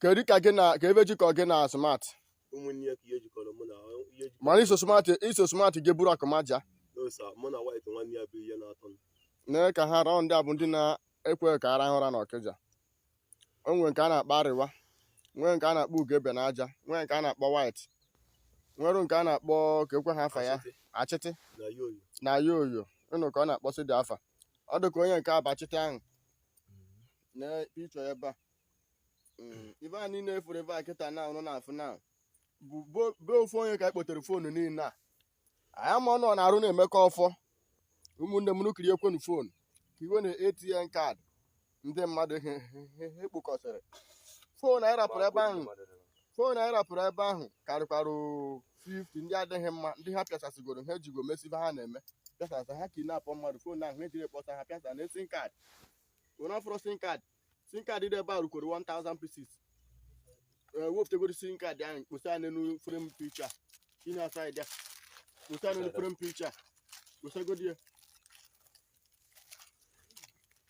kedu ka gị na ka ife jikọ gị na smart ụmụnne ya ka ihe jikọrọ mụ na ihe jikọrọ mana iso smart iso smart gị bụrụ akụmaja n'osa mụ na white nwanne ya bụ ihe na-atọ m na ka ha raụ ndị a bụ ndị na-ekwe ka a rahụ ụra n'Okija o nwere nke a na-akpọ arịwa nwee nke a na-akpọ ugebe na aja nwee nke a na-akpọ white nwere nke a na-akpọ ka ekwe ha afa ya Achịtị achịtị na ya oyi na ya oyo ị nụ ka ọ na-akpọsị ndị afa ọ dị ka onye nke a bụ Achịtị ahụ na picture ya ebe a Mm, ife a niile ị fụrụ ebe a kịta na ụnụ na-afụ na bụ bo- be ofu onye ka anyị kpotere foonu niile a anyị ama ọrụ ọ na-arụ na-emekọ ọfọ ụmụnne m ụnụ kiriekwenu foonu ka iwe na ATM kaadị ndị mmadụ he- he- he- he kpokọsịrị foonu anyị rapụrụ ebe ahụ foonu anyị rapụrụ ebe ahụ karịkwara 50 ndị adịghị mma ndị ha pịasasịgoro ha ejigo mesịa ife ha na-eme pịasasa ha kidnap mmadụ foonu ahụ ha ejiri kpọsịa ha pịasa nee sim kaadị onye ọfụrụ sim kaadị sim kaadị dị ebe a rukwere 1000 pieces e wepụtagoro sim kaadị ahụ kposa ya n'elu frem picha inye asa ya kposa ya n'elu frem picha kposagodi ya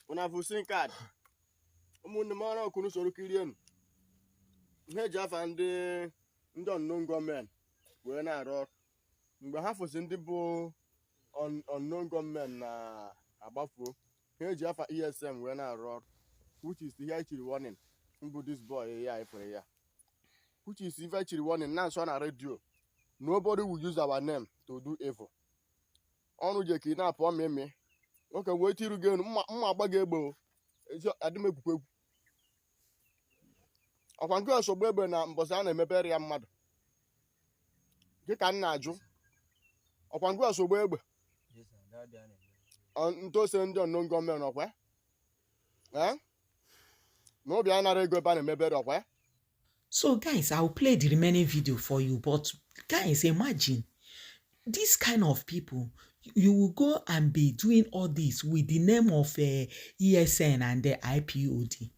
ụna bụ sim kaadị ụmụnne m ọrụ ka ụnụ soro kirienu ihe eji afa ndị ndị unknown gọọmenti wee na-arụ ọrụ mgbe ha fụzi ndị bụ un- unknown gọọmenti na-agbafuo ha eji afa ESN wee na-arụ ọrụ which is ihe chiri warning mbụ this boy ya efere ya which is ife chiri warning na nso na redio nobody will use our name to do evil ọrụ je ka ị na-apụ ọmị eme nwoke wee tiru gị enu mma mma agba gị egbe o ezi adị m egwukwa egwu ọkwa nke ọsọgbu egbe na mbọsị a na-emebere ya mmadụ gị ka m na-ajụ ọkwa ngwa osogbo egbe ọ- ntụ ose ndị unknown gọọmenti ọkwa ya? Eh? na ọ bịa nara ego ebe a na-emebere ọkwa ya? So, guys, I'll play the remaining video for you. But, guys, imagine this kind of people. You will go and be doing all this with the name of uh, ESN and the IPOB.